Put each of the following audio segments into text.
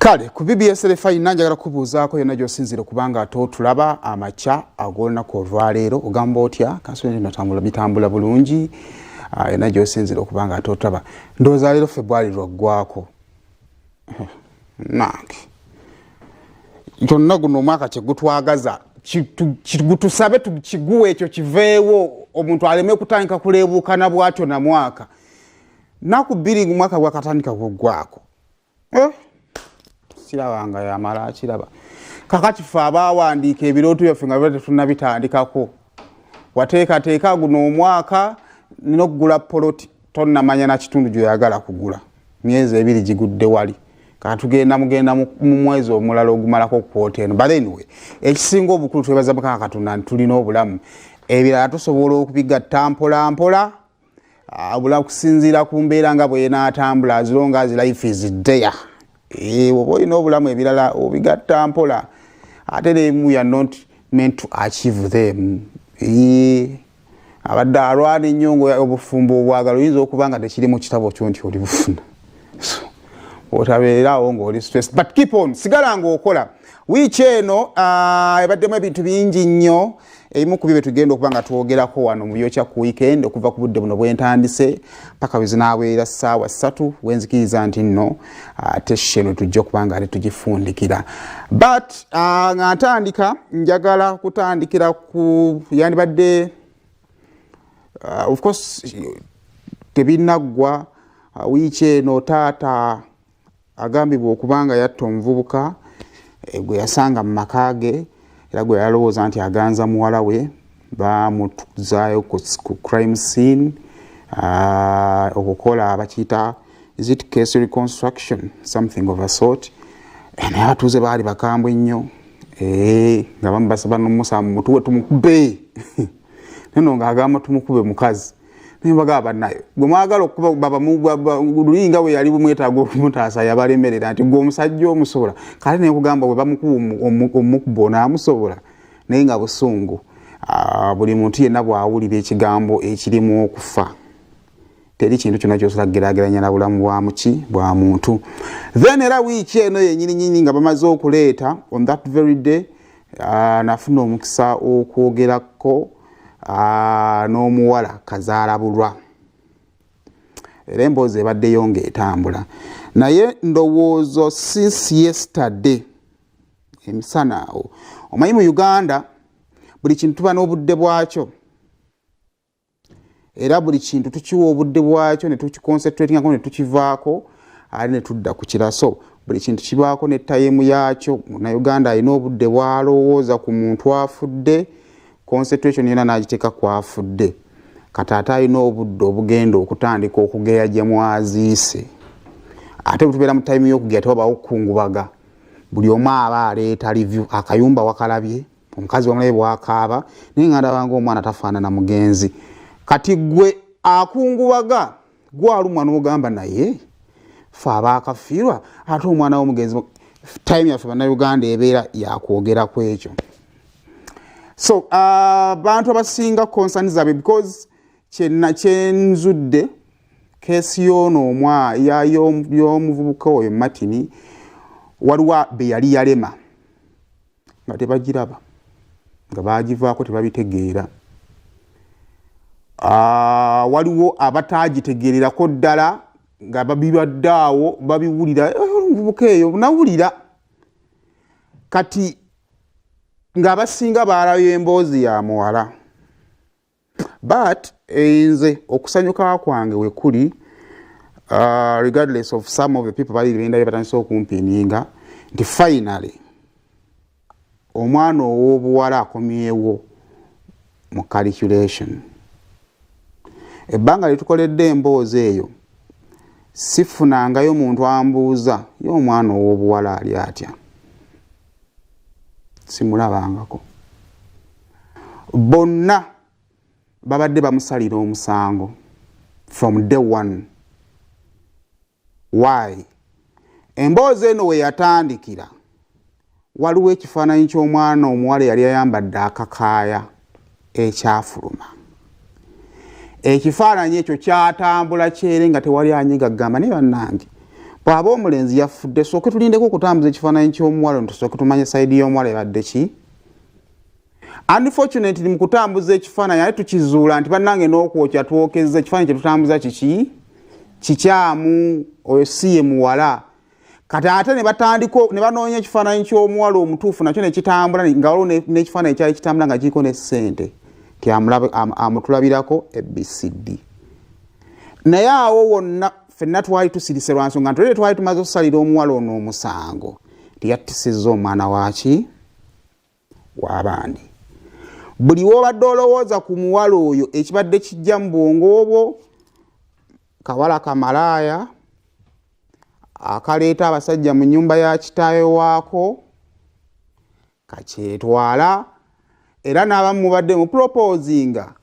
kale ku bbs refaina njagala kubuuzaako yonna gyosinzire kubanga ate otulaba amakya ag'olunaku olwaleero ogamba otya kansinatambula bitambula bulungi ah, yonna gyosinzire okubanga ate otulaba ndowooza leero febwali lwaggwako nange gyonna guno omwaka kyegutwagaza gutusabe kiguwa ekyo kiveewo omuntu aleme kutandika kuleebuukana bwatyo na mwaka naku bbiri ngu mwaka gwakatandika gweggwako eh? sirabanga yamala akiraba kakati fe abaawandiika ebirooto byaffe nga biba tetunabitandikako wateekateeka guno omwaka nina okugula poloti tonamanya na kitundu gyoyagala kugula myezi ebiri gigudde wali katugenda mugenda mu mwezi omulala ogumalako okukwota eno but anyway ekisinga obukulu twebaza mukama katonda nti tulina obulamu ebirala tusobola okubigatta mpolampola abula kusinziira ku mbeera nga bwenaatambula azilonga as life is dea eh, oba olina obulamu ebirala obigatta mpola ate nemu ya not meant to achieve them eh, abadde alwana ennyo nga obufumbo obwagala oyinza okuba nga tekiri mu kitabo kyo nti oli bufuna otabeerawo ngaoli stress but keep on sigala ngaokola wiiki eno uh, ebaddemu ebintu bingi nnyo ebimu ku byo byetugenda okuba nga twogerako wano mu byokya ku weekend okuva ku budde buno bwentandise paka wezinaabeera saawa ssatu wenzikiriza nti nno ate uh, sheno tujja okuba nga ate tugifundikira but uh, nga ntandika njagala kutandikira ku yandibadde uh, of course tebinaggwa uh, wiiki eno taata agambibwa okuba nga yatta omuvubuka eh, gwe yasanga mu maka ge era gwe yalowooza nti aganza muwala we bamutuzaayo ku crime scene uh, okukola bakiyita is it case reconstruction something of a sort eh, naye abatuuze baali bakambwe nnyo eh, nga bamu basaba nomusamu mutuwe tumukube nono nga agamba tumukube mukazi naye bagaba banayo gwe mwagala okukuba baba lulinga we yali bumwetaaga okumutaasa yabalemerera nti gwe omusajja omusobola kale naye kugamba we bamukuba omukuba onaamusobola naye nga busungu ah, buli muntu yenna bwawulira ekigambo ekirimu okufa teri kintu kyona kyosobola kugerageranya na bulamu bwa muki bwa muntu then era wiiki eno yenyininyini nga bamaze okuleeta on that very day uh, nafuna omukisa okwogerako uh, n'omuwala kazaala bulwa era emboozi ebaddeyo nga etambula naye ndowoozo since yesterday emisana awo omanyi mu uganda buli kintu tuba n'obudde bwakyo era buli kintu tukiwa obudde bwakyo netukiconcentratingako netukivaako ali netudda ku kiraso buli kintu kibaako ne tayimu yaakyo munauganda alina obudde bwalowooza ku muntu afudde concentration yona nagiteeka kwafudde kati ate alina obudde obugenda okutandika okugeya gye mwaziise ate bwetubeera mu tayimu yokugeya tewabaawo okukungubaga buli omu aba aleeta review akayumba wakalabye omukazi wamulabe bwakaaba naye nga ndabanga omwana tafaanana mugenzi kati gwe akungubaga gwalumwa n'ogamba naye fe abaakafiirwa ate omwana womugenzi time yaffe bannayuganda ebeera yakwogera ku ekyo so uh, bantu uh, abasinga concern zaabwe because kyena kyenzudde kesi yoono omwa yomuvubuka oyo matini waliwo beyali yalema nga tebagiraba nga bagivaako tebabitegeera ah, waliwo abataagitegeererako ddala nga babibadde awo babiwulira eh, omuvubuka eyo nawulira kati ng'abasinga baalayo emboozi ya muwala but eh, nze okusanyuka kwange wekuli uh, regardless of some of the people bali bendabye batandise okumpininga nti finally omwana ow'obuwala akomyewo mu calculation ebbanga lyetukoledde emboozi eyo sifunangayo muntu ambuuza ye omwana ow'obuwala ali atya simulabangako bonna babadde bamusalira omusango from day one why emboozi eno we yatandikira waliwo ekifaananyi ky'omwana omuwala eyali ayambadde akakaaya ekyafuluma ekifaananyi ekyo kyatambula kyere nga tewali anyiga gamba naye bannange bwaba omulenzi yafudde sooke tulindeko okutambuza ekifaananyi ky'omuwala ntusooke tumanye saidi y'omuwala ebadde ki unfortunately mu kutambuza ekifaananyi ate tukizuula nti bannange n'okwokya twokezza ekifaananyi kyetutambuza kiki kikyamu oyo si ye muwala kati ate ne batandika ne banoonya ekifaananyi ky'omuwala omutuufu nakyo ne kitambula nga waliwo n'ekifaananyi kyali kitambula nga kiriko ne ssente nti amutulabirako ebcd naye awo wonna fenna twali tusirise lwa nsonga ntulere twali tumaze okusalira omuwala ono omusango nti yattisizza omwana waki w'abandi buli w'obadde olowooza ku muwala oyo ekibadde kijja mu bwongo obwo kawala kamalaaya akaleeta abasajja mu nyumba ya kitaawe waako kakyetwala era n'abamu mubadde mu proposinga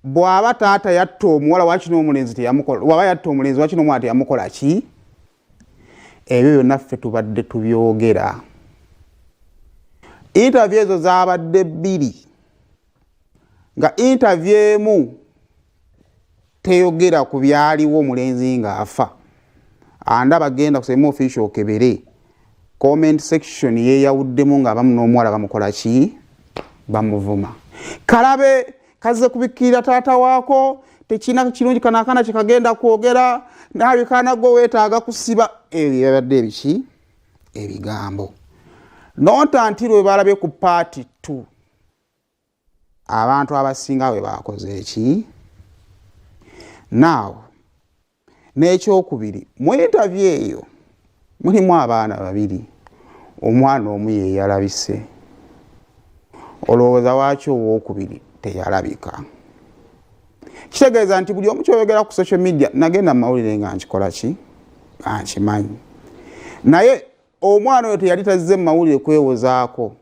bw'aba taata yatta omuwala wakino omulenzi teyamukola bw'aba yatta omulenzi wakino omwana teyamukola ki ebyo byonna ffe tubadde tubyogera intavyu ezo zabadde bbiri nga intavyu emu teyogera ku byaliwo omulenzi ng'afa anda bagenda kusema ofisio okebere comment section yeyawuddemu ng'abamu n'omuwala bamukola ki bamuvuma kalabe kazze kubikkirira taata waako tekirina kirungi kano akaana kyekagenda kwogera naawe kaana gwe weetaaga kusiba ebyo byabadde ebiki ebigambo nonta nti lwe balabye ku paati t abantu abasinga bwe baakoze eki naawo n'ekyokubiri mu intavyu eyo mulimu abaana babiri omwana omu yeyalabise olowooza waaki owokubiri teyalabika kitegeeza nti buli omu kyoyogera ku social media nagenda mu mawulire nga nkikolaki ankimanyi naye omwana oyo teyali tazze mu mawulire kwewozaako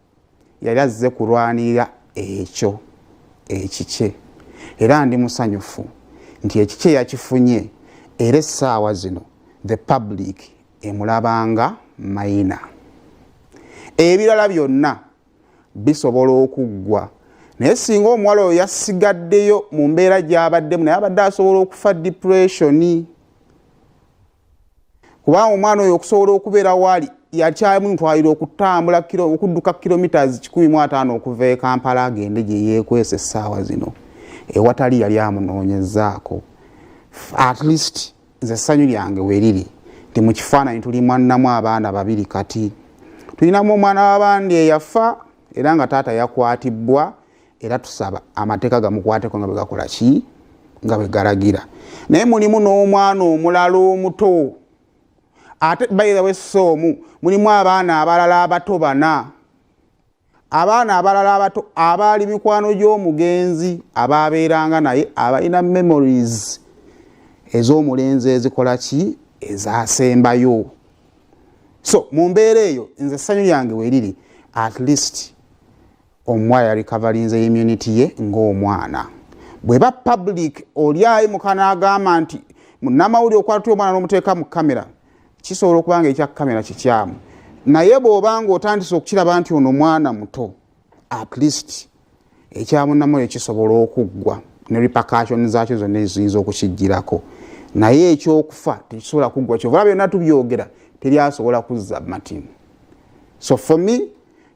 yali azze kulwanirira ekyo ekikye era ndi musanyufu nti ekikye yakifunye era essaawa zino the public emulabanga mayina ebirala byonna bisobola okuggwa naye singa omuwala oyo yasigaddeyo mu mbeera gyabaddemu naye abadde asobola okufa depressioni kubanga omwana oyo okusobola okubeera waali yakyamu ntwalira okutambula okudduka kilometres kikumi mu ataano okuva e kampala agende gye yeekwesa essaawa zino ewatali yali amunoonyezaako at least nze essanyu lyange weriri nti mu kifaananyi tuli mwanamu abaana babiri kati tulinamu omwana w'abandi eyafa era nga taata yakwatibbwa era tusaba amateeka gamukwateko nga bwegakola ki nga bwegalagira naye mulimu n'omwana omulala omuto ate bayizawe si omu mulimu abaana abalala abato bana abaana abalala abato abaali mikwano gy'omugenzi abaabeeranga naye abalina memories ez'omulenzi ezikola ki ezasembayo so mu mbeera eyo nze essanyu lyange weriri at least omuwala yali kavalinze immunity ye ng'omwana bweba public oli ayi mukana agamba nti namawuli okwatula omwana nomuteeka mu kamera kisobola okuba nga ekya kamera kikyamu naye bwobanga otandise okukiraba nti ono mwana muto at least ekyamunamuyo kisobola okuggwa ne repacationi zakyo zonna eziyinza okukijjirako naye ekyokufa tekisobola kuggwa kyovula byonna tubyogera teri asobola kuzza martin so for me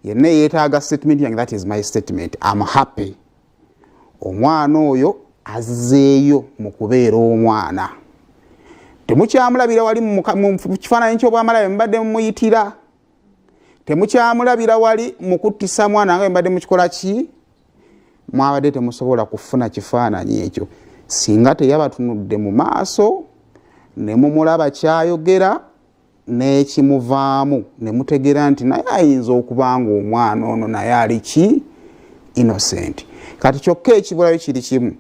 yenna eyetaaga statement yange that is my statement am happy omwana oyo azzeeyo mu kubeera omwana temukyamulabira wali mu kifaananyi ky'obwamala bwe mubadde mumuyitira temukyamulabira wali mu kuttisa mwana nga mbadde mukikola ki mwabadde temusobola kufuna kifaananyi ekyo singa teyabatunudde mu maaso ne mumulaba kyayogera n'ekimuvaamu ne mutegeera nti naye ayinza okuba nga omwana ono naye ali ki innocent kati kyokka ekibulayo kiri kimu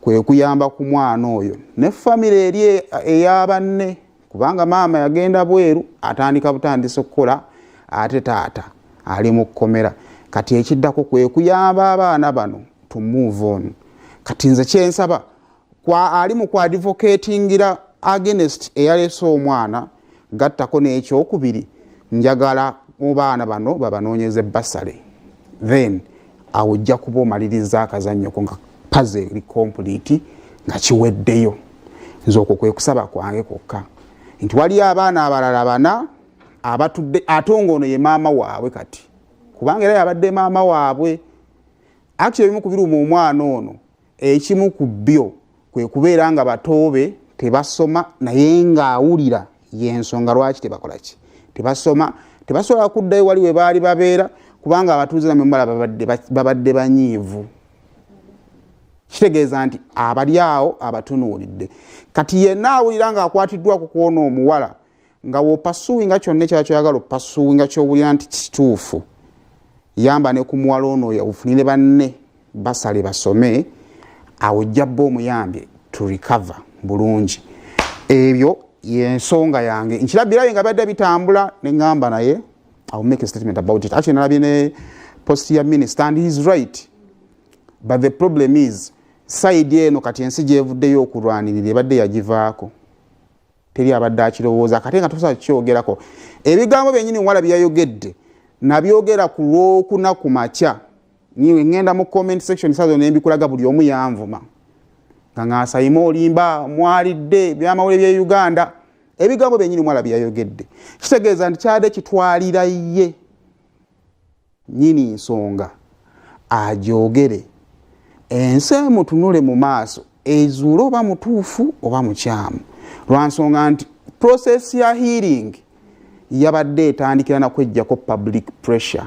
kwe kuyamba ku mwana oyo ne famire eri eya banne kubanga maama yagenda bweru atandika butandisa okukola ate taata ali mu kkomera kati ekiddako kwe kuyamba abaana bano to move on kati nze kyensaba kwa ali mu kuadvocatingira agenest eyalese omwana gattako n'ekyokubiri njagala mu baana bano babanoonyeze basale then awo ojja kuba omaliriza akazannyoko nga paze eri kompuliti nga kiweddeyo nze okwo kwe kusaba kwange kwokka nti waliyo abaana abalala bana abatudde ate nga ono ye maama waabwe kati kubanga era yabadde maama waabwe akti ebimu kubiruma omwana ono ekimu ku byo kwe kubeera nga batoobe tebasoma naye ng'awulira yensonga lwaki tebakola ki tebasoma tebasobola kuddayo wali we baali babeera kubanga abatuuze namwe mubala babadde banyiivu kitegeeza nti abali awo abatunuulidde kati yenna awulira ng'akwatiddwa ku kwona omuwala nga wopasuwinga kyonna ekyala kyoyagala opasuwinga kyowulira nti kituufu yamba ne ku muwala ono oyo ofunire banne basale basome awo ojja bba omuyambye to recover bulungi ebyo yensonga yange nkirabirayo nga byadde bitambula neŋamba naye iw make a statement about it actually nalabye ne post ya minister and heis right but the problem is saidi eno kati ensi gyevuddeyo okulwanirira ebadde yagivaako teri abadde akirowooza kate nga tusa kukyogerako ebigambo byenyini wala byeyayogedde nabyogera ku lwokuna ku makya niwe ŋŋenda mu comment section sazo nembikulaga buli omu yanvuma nga ngaasayima olimba mwalidde byamawule bye uganda ebigambo byenyini mwala byeyayogedde kitegeeza nti kyade kitwalira ye nyini nsonga ajoogere ensi emutunule mu maaso ezuule oba mutuufu oba mukyamu lwansonga nti process ya healing yabadde etandikira nakwejjako public pressure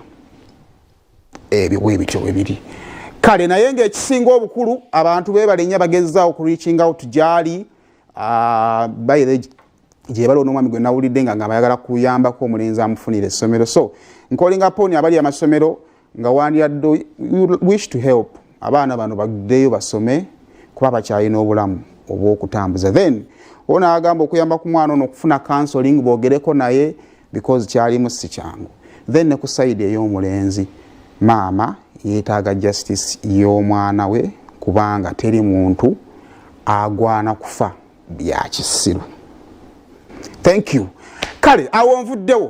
ebyo bwebityo bwebiri kale naye ngaekisinga obukulu abantu bebalenya bagezaawo ku reaching out gyali ah, by the gyebali onomwami gwe nawulidde nga ngamba ayagala kuyambako omulenzi amufunira essomero so nkolinga poni abali amasomero nga wandiyadde wish to help abaana bano bagdeyo basome kuba bakyalina obulamu obwokutambuza then ona agamba okuyamba ku mwana ono okufuna counseling bogereko naye because kyalimu si kyangu then ne ku saidi ey'omulenzi maama yeetaaga justice y'omwana we kubanga teri muntu agwana kufa byakisiru thank you kale awo nvuddewo